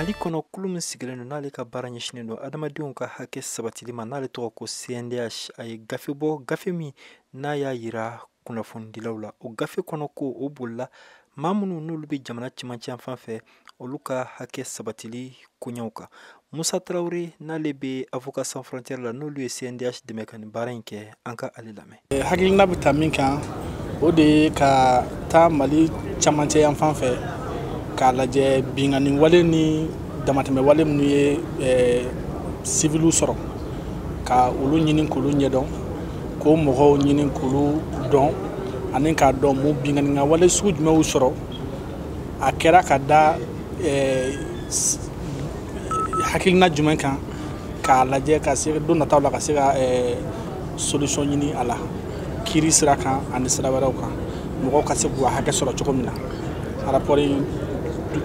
mali kɔnɔ kulu min sigilen don n'ale ka baara ɲɛsinen don adamadenw ka hakɛ sabatili ma n'ale tɔgɔ ko cndh a ye gafe bɔ gafe min n'a y'a yira kunnafonidilaw la o gafe kɔnɔ ko o bolila maa minnu n'olu bɛ jamana cɛmancɛ yan fan fɛ olu ka hakɛ sabatili koɲɛw kan musa tarawele n'ale bɛ avocats sans frontières la n'olu ye cndh dɛmɛ ka nin baara in kɛ an ka ale lamɛn eh, hakilina bɛ ta min kan o de ye ka taa mali camancɛ yan fan fɛ k'a lajɛ binkanni wale ni damatɛmɛ wale minnu ye eh, siviliw sɔrɔ ka olu ɲini k'olu ɲɛdɔn k'o mɔgɔw ɲini k'olu dɔn ani k'a dɔn mun binkanni ka wale sugu jumɛnw sɔrɔ a kɛra ka da eh, hakilina jumɛn kan k'a lajɛ ka se don nataw la ka se ka eh, solution ɲini a la kiri sira kan ani sira wɛrɛw kan mɔgɔw ka se k'u hakɛ sɔrɔ cogo min na rapport in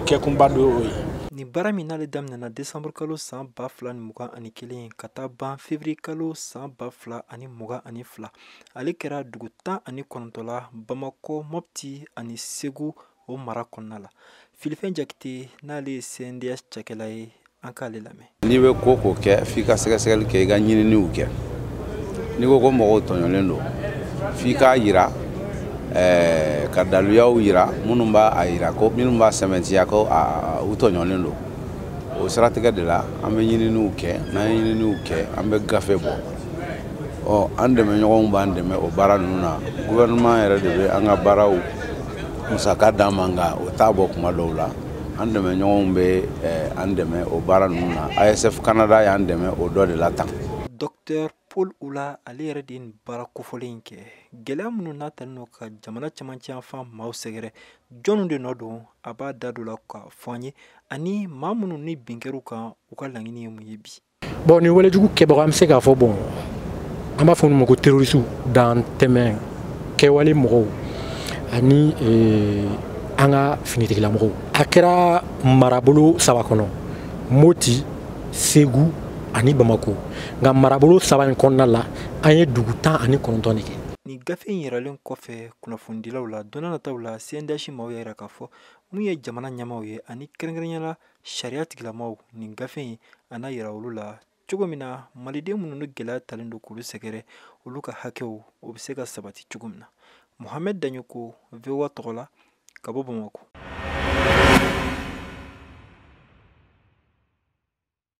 kɛkunba dɔ y'o ye nin baara min n'ale daminɛna desanburu kalo san ba fila ni mugan ani kelen ka taa ban fevriye kalo san ba fila ani mugan ani fila ale kɛra dugu tan ani kɔnɔntɔn la bamakɔ mɔpti ani segu o mara kɔnɔna la filifɛn jakite n'ale ye cndh cakɛla ye an k'ale lamɛn n'i bɛ ko ko kɛ f'i ka sɛgɛsɛgɛli kɛ i ka ɲininiw kɛ n'i ko ko mɔgɔw tɔɲɔlen don f'i k'a yira eh, ka daluyaw yira minnu b'a yira ko minnu b'a sɛmɛntiya ko u tɔɲɔlen don o siratigɛ de la an bɛ ɲininiw kɛ n'an ye ɲininiw kɛ an bɛ gafe bɔ ɔ an dɛmɛɲɔgɔnw b'an dɛmɛ o baara ninnu na gouvernement yɛrɛ de bɛ an ka baaraw musaka d'an ma nka o t'a bɔ kuma dɔw la an dɛmɛɲɔgɔnw bɛ eh, an dɛmɛ o baara ninnu na asf canada y'an dɛmɛ o dɔ de la tan docteur paul ula ale yɛrɛ de ye nin baara kofɔlen in kɛ gɛlɛya minnu n'a talen don ka jamana camancɛ yan fan maaw sɛgɛrɛ jɔnw de nɔ don a b'a da don la k'a fɔ an ye ani maa minnu ni bin kɛr'u kan u ka laɲini ye mun ye bi bon nin walejugu kɛbaga an bɛ se k'a fɔ bon an b'a fɔ olu ma ko terorisiw dantɛmɛ kɛwale mɔgɔw ani eh, an ka finitigilamɔgɔw a kɛra marabolo saba kɔnɔ moti segu ani bamako nka marabolo saba in kɔnɔna la an ye dugu tan ani kɔnɔntɔn de kɛ nin gafe in yiralen kɔfɛ kunnafonidilaw la don nataw la cndh maaw y'a yira k'a fɔ mun ye jamana ɲɛmaaw ye ani kɛrɛnkɛrɛnnenya la sariya tigilamaw nin gafe in a n'a yira olu la cogo min na maliden minnu ni gɛlɛya talen don k'olu sɛgɛrɛ olu ka hakɛw o bɛ se ka sabati cogo min na mohamɛd daɲoko voa tɔgɔ la ka bɔ bamakɔ